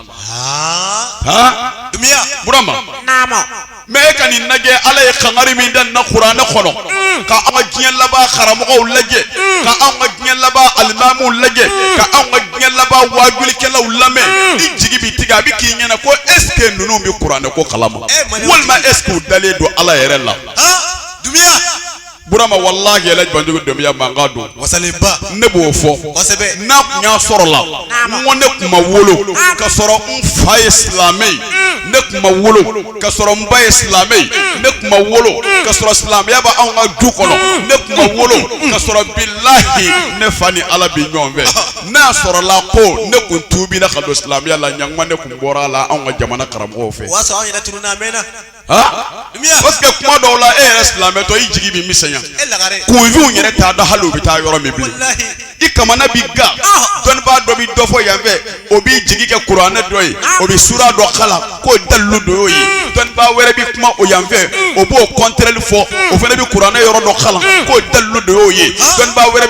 ha burama Mais e ka nin lajɛ ala ye kangari min da an na kuranɛ kɔnɔ mm. ka an ka diɲɛ laban karamɔgɔw lajɛ mm. ka anw ka diɲɛ laban alimamu lajɛ mm. ka anw ka diɲɛ laban wajulikɛlaw lamɛn i jigi bɛ tigɛ a bɛ k'i ɲɛna ko est-ce que ninnu bɛ kuranɛ ko kalama eh, walima est-ce que u dalen don ala yɛrɛ la ah, dunbiya Burama walahi yɛlɛ banjugu dunbiya mankan don wasalenba ne b'o fɔ n'a tun y'a sɔrɔ la ko ne tun ma wolo ka sɔrɔ n fa ye silamɛ ye mm. ne tun ma wolo ka sɔrɔ n ba ye silamɛ ye mm. ne tun ma wolo mm. ka sɔrɔ silamɛya bɛ anw ka du kɔnɔ ne tun ma wolo ka sɔrɔ bilahi ne fa ni ala bi ɲɔgɔn fɛ n'a y'a sɔrɔ la ko ne tun tuubira ka don silamɛya la ɲankuma ne tun bɔra a la anw ka jamana karamɔgɔw fɛ que kuma dɔw la e yɛrɛ silamɛtɔ i jigi bɛ misɛnya kunfinw yɛrɛ t'a dɔn hali u bɛ taa yɔrɔ min bilen i kamana bi gan dɔnnibaa dɔ bɛ dɔ fɔ yan fɛ o b'i jigi kɛ kuranɛ dɔ ye o bɛ sura dɔ kalan k'o dalilu dɔ y'o ye dɔnnibaa wɛrɛ bɛ kuma o yan fɛ o b'o contraire fɔ o fana bɛ kuranɛ yɔrɔ dɔ kalan k'o dalilu dɔ y'o ye dɔnnibaa wɛrɛ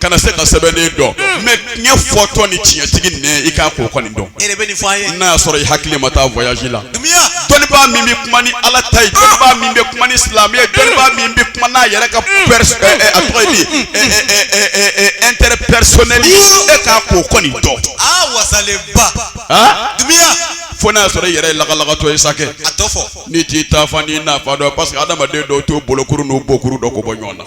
kana se ka sɛbɛnni dɔn mais tiɲɛ fɔtɔ ni tiɲɛtigi ni i kan k'o kɔni dɔn n'a y'a sɔrɔ i hakili ma taa voyage la dɔnnibaa min bɛ kuma ni ala ta ye dɔnnibaa min bɛ kuma ni silamɛ ye dɔnnibaa min bɛ kuma n'a yɛrɛ ka a tɔgɔ ye di intérêt personnel e kan k'o kɔni dɔn fo n'a sɔrɔ i yɛrɛ lagalagatɔ ye c'est que n'i t'i taa fan n'i na fan dɔn parce que adamaden dɔw t'o bolokuru n'o bokuru dɔn ka bɔ ɲɔgɔn na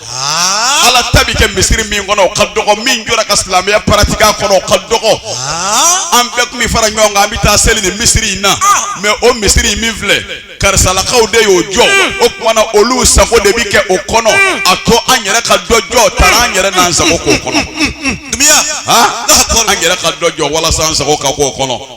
ala ta bɛ kɛ misiri min kɔnɔ o ka dɔgɔ min jɔra ka silamɛya paratike a kɔnɔ o ka dɔgɔ an bɛɛ tun bɛ fara ɲɔgɔn kan an bɛ taa seli nin misiri in na mɛ o misiri in min filɛ karisalakaw de y'o jɔ o tuma na olu sago de bɛ kɛ o kɔnɔ a to an yɛrɛ ka dɔ jɔ taara an yɛrɛ n'an sago k'o kɔnɔ an yɛrɛ ka dɔ jɔ walasa an sago ka k'o kɔnɔ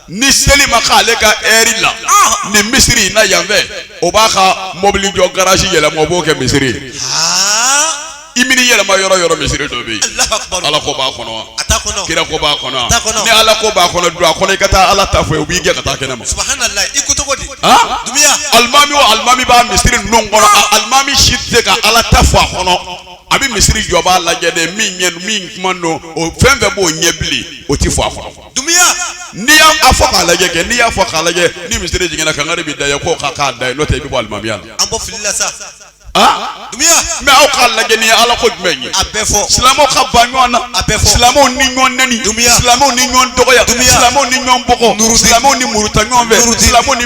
ni seli ma k'ale ka ɛri la ah. nin misiri in na yanfɛ o b'a ka mɔbili jɔ garasi yɛlɛma o b'o kɛ misiri ye ah. i mini yɛlɛma yɔrɔ yɔrɔ misiri dɔ bɛ yen ala ko b'a kɔnɔ wa kira ko b'a kɔnɔ ni ala ko b'a kɔnɔ don a kɔnɔ i ka taa ala ta fɔ ye u b'i gɛn ka taa kɛnɛ ma ah. alimami o alimami b'a misiri ninnu kɔnɔ alimami si tɛ se ka ala ta fɔ a kɔnɔ a bɛ misiri jɔbaa lajɛ de min ɲɛ min kuma don o fɛn fɛn b'o ɲɛ bilen o tɛ fɔ a kɔnɔ. dumiya n'i y'a fɔ k'a lajɛ kɛ n'i y'a fɔ k'a lajɛ ni misiri jiginna kangari bɛ da ye k'o ka k'a da ye n'o tɛ i bɛ bɔ alimamiya la. an bɔ fili la sa. Ah? dumiya. mɛ aw k'a lajɛ nin ye ala ko jumɛn ye. a bɛɛ fɔ. silamɛw ka ban ɲɔgɔn na. a bɛɛ fɔ. silamɛw ni ɲɔgɔn nɛni. dumiya. silamɛw ni ɲɔgɔn dɔgɔya. dumiya. silamɛw ni ɲɔgɔn bugɔ. nuruti. silamɛw ni muruta ɲɔgɔn fɛ. nuruti. silamɛw ni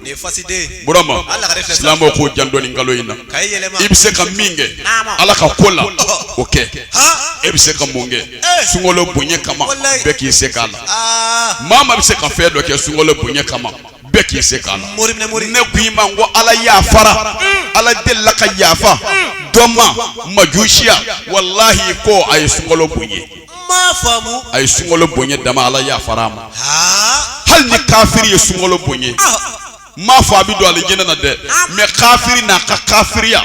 nin ye fasiden ye burama Hali lakare filɛ silamɛw k'u janto nin kalo in na ka i yɛlɛma i bɛ se ka min kɛ Naama. ala ka ko la o kɛ han e bɛ se ka mun kɛ sunkalo bonya kama Walayi. bɛɛ k'i se k'a la aa maa maa bɛ se ka fɛn dɔ kɛ sunkalo bonya kama bɛɛ k'i se k'a la mori minɛ mori ne ko i ma n ko ala yafara ala delila ka yafa dɔ ma majusiya walahi ko a ye sunkalo bonya a ye sunkalo bonya dama ala yafara a ma hali ni kafiri ye sunkalo bonya n m'a fɔ a bɛ don alijinɛ na dɛ mɛ kafiri n'a ka kafiriya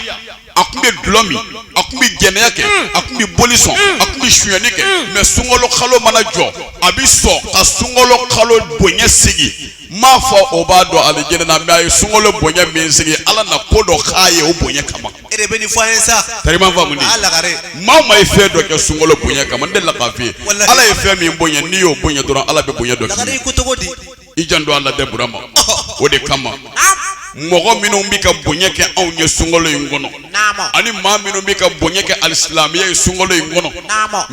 a tun bɛ dulɔ min a tun bɛ jɛnɛya kɛ mm. a tun bɛ boli sɔn mm. a tun bɛ sonyɛni kɛ mm. mɛ sunkalo kalo mana jɔ a bɛ sɔn ka sunkalo kalo bonya sigi n m'a fɔ o b'a don alijinɛ na mɛ a ye sunkalo bonya min sigi ala na ko dɔ k'a ye o bonya kama. e de bɛ nin fɔ ye sa tariman faamu ni maa maa ye fɛn dɔ kɛ sunkalo bonya kama n delila k'a f'i ye ala ye fɛn min bonya n'i y'o bonya dɔrɔn ala bɛ bonya dɔ k'i ko cogo di i janto a la dɛ burama o de kama mɔgɔ minnu bɛ ka bonya kɛ anw ye sunkalo in kɔnɔ ani maa minnu bɛ ka bonya kɛ alisilamɛya ye sunkalo in kɔnɔ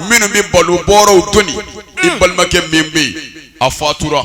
minnu bɛ balo bɔrɔw doni i balimakɛ min bɛ yen a fatura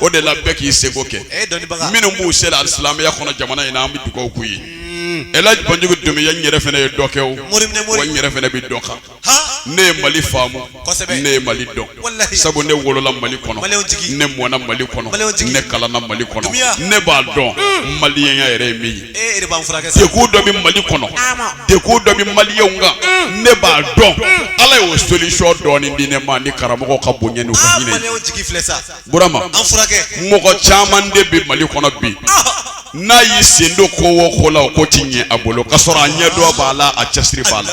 o de la bɛɛ k'i seko kɛ minnu b'u sera alisilamɛya kɔnɔ jamana in na an bɛ dugawu k'u ye mm. elaji banjugu dunbiya n yɛrɛ fana ye dɔ kɛ o wa n yɛrɛ fana bɛ dɔ kan ne ye mali faamu ne ye mali dɔn sabu ne wolola mali kɔnɔ ne mɔna mali kɔnɔ ne kalanna mali kɔnɔ ne b'a dɔn mm. maliyenya yɛrɛ ye min ye e de b'an furakɛ sa. degun dɔ bɛ mali kɔnɔ degun dɔ bɛ maliyɛnw kan mm. ne b'a dɔn mm. ala y'o solution dɔɔni di ne ma ni karamɔgɔ ka bonya n'u ka ah, hinɛ. maliyɛnw jigi filɛ sa. burama an furakɛ. mɔgɔ caman de bɛ mali kɔnɔ bi. Ah. n'a y'i sen don ko o ko la o ko ti ɲɛ a bolo k'a sɔrɔ a ɲɛdɔn b'a la a cɛsiri b'a la.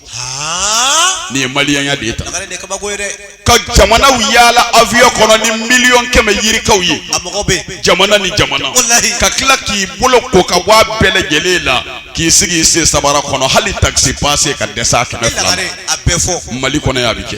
nin ye maliyɛnya de ye tan ka jamanaw yaala avion kɔnɔ ni miliyɔn kɛmɛ yirikaw ye jamana ni jamana ka tila k'i bolo ko ka bɔ a bɛɛ lajɛlen la k'i sigi i sen sabara kɔnɔ hali taxi passe ka dɛsɛ a kɛmɛ fila mali kɔnɔ yan a bɛ kɛ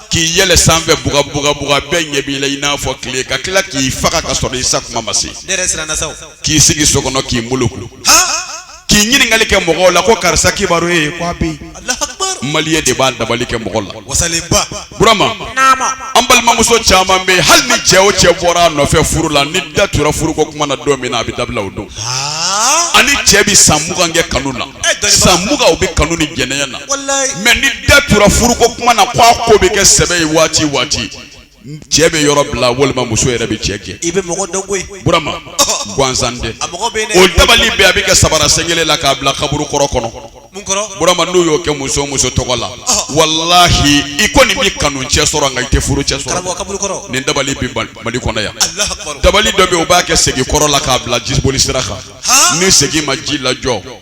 k'i yɛlɛ sanfɛ buga buga buga bɛɛ ɲɛ b'i la i n'a fɔ tile ka tila k'i faga ka sɔrɔ i sa kuma ma se k'i sigi so kɔnɔ k'i muluku k'i ɲininkali kɛ mɔgɔw la ko karisa kibaru ye ko a bɛ yen maliyɛn de b'a dabali kɛ mɔgɔ la burama an balimamuso caman bɛ yen hali ni cɛ o cɛ bɔra a nɔfɛ furu la ni da tura furuko kuma na don min na a bɛ dabila o don ani cɛ bɛ san mugan kɛ kanu na san mugan u bɛ kanu ni jɛnɛya na mais ni da tura furuko kuma na ko a ko bɛ kɛ sɛbɛ ye waati waati cɛ bɛ yɔrɔ bila walima muso yɛrɛ bɛ cɛ gɛn i bɛ mɔgɔ dɔn koyi burama gansan tɛ o dabali bɛ a bɛ kɛ sabara sen kelen la k'a bila kaburu kɔrɔ kɔnɔ mun kɔrɔ burama n'u y'o kɛ muso muso tɔgɔ la walahi i kɔni bɛ kanu cɛ sɔrɔ nka i tɛ furu cɛ sɔrɔ kaburu kɔrɔ nin dabali bɛ mali kɔnɔ yan dabali dɔ bɛ yen u b'a kɛ segi kɔrɔ la k'a bila jiboli sira kan ni segi ma ji lajɔ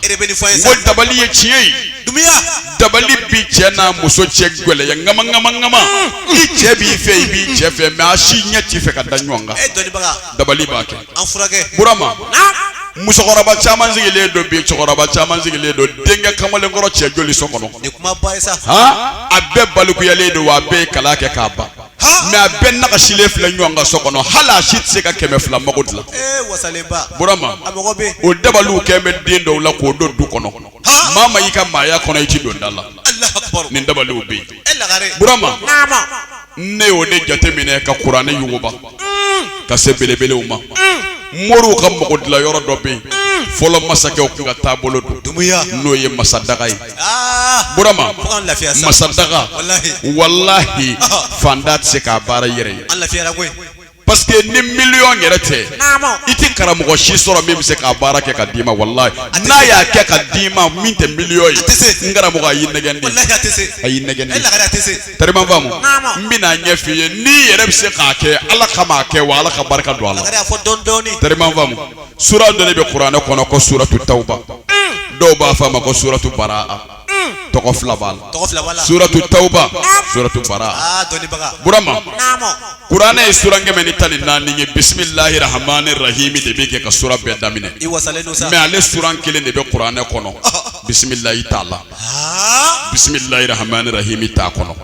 ko dabali ye tiɲɛ ye dabali bi cɛ n'a muso cɛ gɛlɛya ŋama ŋama ŋama i cɛ b'i fɛ i b'i cɛ fɛ mais a si ɲɛ t'i fɛ ka da ɲɔgɔn kan dabali b'a kɛ burama musokɔrɔba caman sigilen don bi cɛkɔrɔba caman sigilen don denkɛ kamalenkɔrɔ cɛ joli so kɔnɔ a bɛɛ balikuyalen don wa a bɛɛ ye kalan kɛ k'a ban mais a bɛɛ nagasilen filɛ ɲɔgɔn kan so kɔnɔ hali a si tɛ se ka kɛmɛ fila mago dilan burama o dabaliw kɛlen bɛ den dɔw la k'o don du kɔnɔ maa ma y'i ka maaya kɔnɔ i ti don da la nin dabaliw bɛ yen burama ne y'o de jateminɛ ka kuranɛ yuguba mm. ka se belebelew ma mm. moriw ka mago dilan yɔrɔ dɔ bɛ yen mm. fɔlɔ masakɛw tun ka taabolo don n'o ye masadaga ye burama masadaga walahi faantan tɛ se k'a baara i yɛrɛ ye parce que ni miliyɔn yɛrɛ tɛ i tɛ karamɔgɔ si sɔrɔ min bɛ se k'a baara kɛ ka d'i ma walahi n'a y'a kɛ ka d'i ma min tɛ miliyɔn ye n karamɔgɔ a y'i nɛgɛn de a y'i nɛgɛn de tɛrɛma faamu n bɛn'a ɲɛf'i ye n'i yɛrɛ bɛ se k'a kɛ ala kama a kɛ wa ala ka barika don a la tɛrɛma faamu. sura dɔ de bɛ kuranɛ kɔnɔ ko suratu tawuba dɔw b'a fɔ a ma ko suratu baraa tɔgɔ fila b'a la tɔgɔ fila b'a la suratu tawuba suratu baraa aa dɔnnibaga burama naamɔ kuranɛ ye sura kɛmɛ ni tan ni naani ye bisimilahi rahamani rahimi de bɛ kɛ ka sura bɛɛ daminɛ i wasalen don sa mɛ ale sura kelen de bɛ kuranɛ kɔnɔ bisimilahi t'a la aa bisimilahi rahamani rahimi t'a kɔnɔ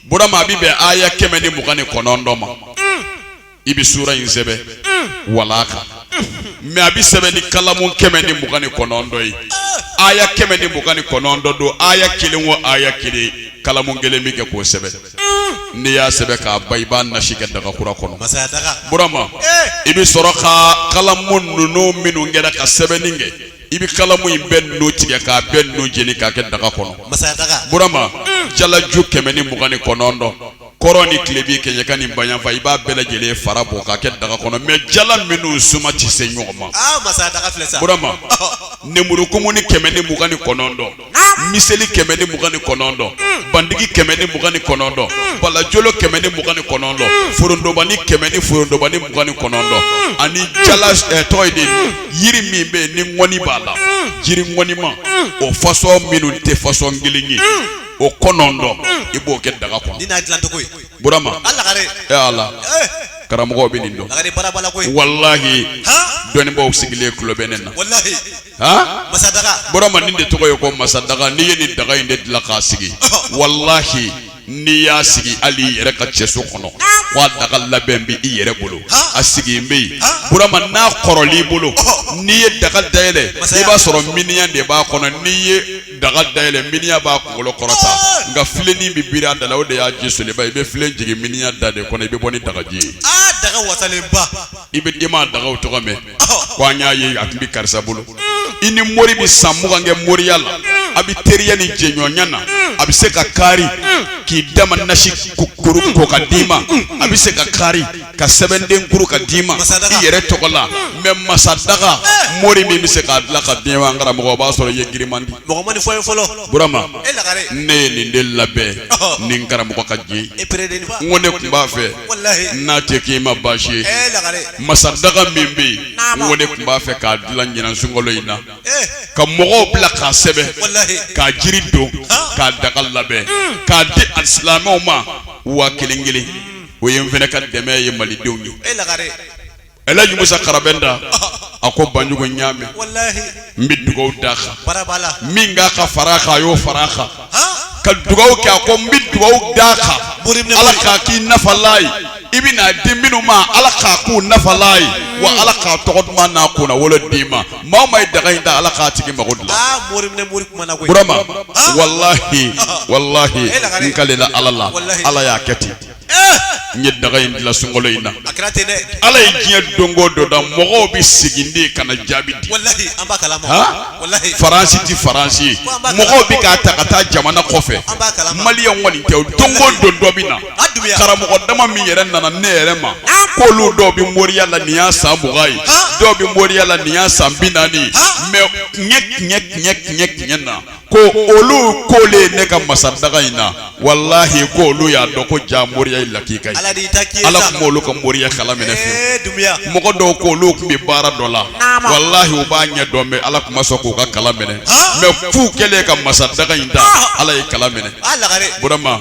burama a bi bɛn aya kɛmɛ ni mugan ni kɔnɔntɔn ma i bɛ sura in sɛbɛn walaa kan mɛ a bɛ sɛbɛn ni kalamu kɛmɛ ni mugan ni kɔnɔntɔn ye aya kɛmɛ ni mugan ni kɔnɔntɔn don aya kelen o aya kelen kalamu kelen bɛ kɛ k'o sɛbɛn n'i y'a sɛbɛn k'a ban i b'a nasi kɛ dagakura kɔnɔ burama i bɛ sɔrɔ ka kalamu ninnu minnu kɛra ka sɛbɛnni kɛ i bɛ kalamu in bɛɛ ninnu tigɛ k'a bɛɛ ninnu jeni k'a kɛ daga kɔnɔ burama jalaju kɛmɛ ni mugan ni kɔnɔntɔn kɔrɔn ni tilebin kɛɲɛka ni bayanfan i b'a bɛɛ lajɛlen fara bɔ k'a kɛ daga kɔnɔ mɛ jala minnu suma tɛ se ɲɔgɔn ma ah, burama nemurukumunin kɛmɛ ni mugan ni kɔnɔntɔn miseli kɛmɛ ni mugan ni kɔnɔntɔn hmm. bandigi kɛmɛ ni mugan ni kɔnɔntɔn hmm. balajolo kɛmɛ ni mugan ni kɔnɔntɔn hmm. forondobani kɛmɛ ni forondobani mugan ni kɔnɔntɔn ani jala eh, tɔgɔ di yiri min bɛ yen ni ŋɔni b'a la jiri ŋɔnima o fasɔn minnu tɛ fasɔn kelen ye o kɔnɔntɔn i b'o kɛ daga kɔnɔ nin y'a dilan cogo ye burama a lagare e ala eh. karamɔgɔ bɛ nin dɔn lagare baara b'a la koyi walahi dɔnnibaaw sigilen tulo bɛ ne na walahi ha masadaga burama nin de tɔgɔ ye ko masadaga n'i ye nin daga in de dilan k'a sigi walahi n'i y'a sigi hali i yɛrɛ ka cɛso kɔnɔ ko a daga labɛn bɛ i yɛrɛ bolo a sigi bɛ yen burama n'a kɔrɔl'i bolo n'i ye daga dayɛlɛ i b'a sɔrɔ miniyan de b'a kɔnɔ n'i ye daga dayɛlɛ miniyan b'a kunkolo kɔrɔta nka filenin bɛ biri a da la o de y'a ji soliba i bɛ filen jigin miniyan da de kɔnɔ i bɛ bɔ ni dagaji ye daga wasalenba i bɛ denma dagaw tɔgɔ mɛn ko an y'a ye a tun bɛ karisa bolo i ni mori bɛ san mugan kɛ moriya la a bɛ teriya ni jɛɲɔgɔnya na a bɛ se ka kari k'i dama nasi kuru ko k'a d'i ma a bɛ se ka kari ka sɛbɛnden kuru k'a d'i ma i yɛrɛ tɔgɔ la mɛ masa daga eh. mori min bɛ se k'a dilan k'a d'i ma n karamɔgɔ o b'a sɔrɔ i ye girinman di. mɔgɔ ma nin fɔ ye fɔlɔ. burama e ne ye nin de labɛn ni n karamɔgɔ ka diɲɛ e n ko ne tun b'a fɛ n'a tɛ k'i ma baasi ye e masa daga min bɛ yen n ko ne tun b'a fɛ k'a dilan ɲinan sunkalo in na eh. ka mɔgɔw bila k'a sɛbɛn k'a jiri don k'a daga labɛn hmm. k'a di alisilamɛw ma waa kelen kelen. o ye n fana ka dɛmɛ ye malidenw ye e lagare El Hadj Musa Karabɛnda a ko Banjugu n y'a mɛn n bɛ dugawu d'a kan min ka kan ka fara a kan a y'o fara a kan ka dugawu kɛ a ko n bɛ dugawu d'a kan Ala k'a k'i nafalan ye i bɛn'a di minnu ma Ala k'a k'u nafalan ye wa Ala k'a tɔgɔ duman n'a kunnawolo d'i ma. maa o maa ye daga in da ala k'a tigi mago dilan aa mori minɛ mori kuma na koyi burama Ah. walahi Ah. walahi Eh, lagare. n kalela ala la Walahi. ala y'a kɛ ten Eh, n ye daga in dilan sunkalo in na a kɛra ten dɛ ala ye diɲɛ don o don da mɔgɔw bɛ segin de ka na jaabi di walahi an b'a kalama Ha? walahi faransi tɛ faransi ye Ko an b'a mɔgɔw bɛ k'a ta ka taa jamana kɔfɛ An b'a kalama. mali yan kɔni tɛ o don o don dɔ bɛ na karamɔgɔ dama min yɛrɛ nana ne yɛrɛ ma k'olu dɔw bɛ moriya la nin y'a san mugan ye dɔw bɛ moriya la nin y'a san bi naani ye mɛ tiɲɛ tiɲɛ tiɲɛ tiɲɛ tiɲɛ na ko olu kolen ne ka masadaga in na walahi ko olu y'a dɔn ko jaa moriya ye lakika ye ala tun m'olu ka moriya kala minɛ fiyewu mɔgɔ dɔw k'olu tun bɛ baara dɔ la walahi u b'a ɲɛ dɔn mɛ ala tun ma sɔn k'u ka kala minɛ mɛ f'u kɛlen ka masadaga in da ala y'a kala minɛ burama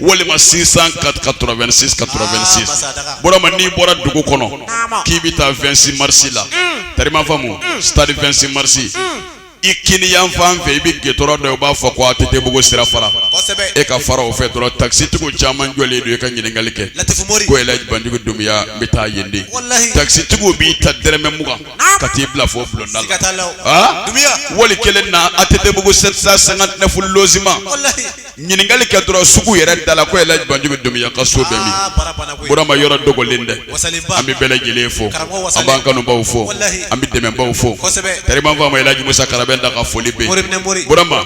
walima soixante-quatre quatre-vingt-six quatre-vingt-six burama n'i bɔra dugu kɔnɔ k'i bɛ taa vingt-six mars la tariman faamu stade vingt-six mars i kini yan fan fɛ i bɛ gudurɔn dɔ ye u b'a fɔ ko ATTbugu sira fara e ka fara o fɛ dɔrɔn takisitigiw caman jɔlen don i ka ɲininkali kɛ ko el hadj banjugu dunbiya n bɛ taa yen de takisitigiw b'i ta dɔrɔmɛ mugan ka t'i bila fo bulonda la boli kelen na ATTbugu sept cent cinquante-neuf logements Ɲininkali kɛ dɔrɔn sugu yɛrɛ da la ko yɛlɛ banjugu bɛ dunya ka so bɛurama yɔrɔ dogolen dɛ an bɛ bɛɛ lajɛlen fo an b'an kanubaw fɔ an bɛ dɛmɛbaw fɔ karibanfɔ majugusa kala bɛ da ka foli bɛurama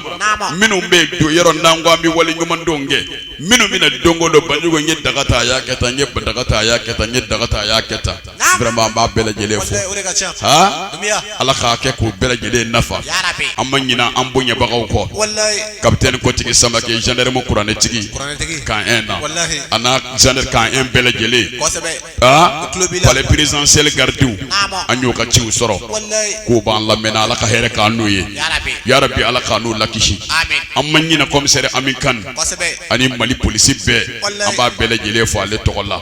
minnu bɛ don yɔrɔ n' an bɛ wale ɲumandenw kɛ minnu bɛna donko don banjugu ye daga ta y'a kɛ taa n ye ba daga ta y'a kɛ taa n ye daga ta y'a kɛ taa an b'a bɛɛ lajɛlen fo ala k'a kɛ k'u bɛɛ lajɛlen nafa an ma ɲinɛ an bonyabagaw kɔ capitaine kotigi samakɛ gendarme kuranɛtigi camp un na ani gendarme camp un bɛɛ lajɛlen palais présidentiel garidiw an y'u ka ciw sɔrɔ k'u b'an lamɛn ala ka hɛrɛ k'a n'u ye ya rabi ala k'a n'u lakisi an ma ɲinɛ commissaire ami kane ani mali polisi bɛɛ an b'a bɛɛ lajɛlen fo ale tɔgɔ la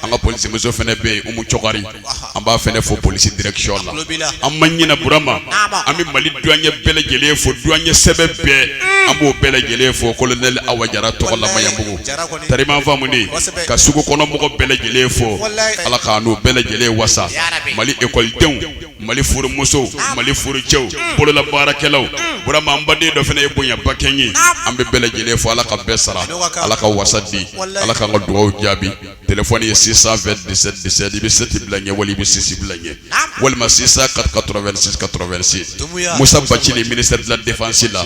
an ka polisimuso fana bɛ yen umu cokari an b'a fana fo polisi direction la an ma ɲinɛ burama an bɛ mali duwaɲɛ bɛɛ lajɛlen fo duwaɲɛ sɛbɛ bɛɛ an b'u bɛɛ lajɛlen fo colonel awa jara tɔgɔ la maɲanbugu tariman faamu ka sugu kɔnɔmɔgɔ bɛɛ lajɛlen fo ala k'a n'u bɛɛ lajɛlen wasa mali ekɔlidenw mali furumusow mali furucɛw bolola baarakɛlaw burama an baden dɔ fana ye bonyabakɛ ye an bɛ bɛɛ lajɛlen fo ala ka bɛɛ sara ala ka wasa di ala k'an ka dugaw jaabi telefɔni ye six cent vingt dix-sept dix-sept i bɛ sept bila ɲɛ wali i bɛ six bila ɲɛ walima six cent quatre-vingt-six quatre-vingt-six musa bacili ministère de la défense la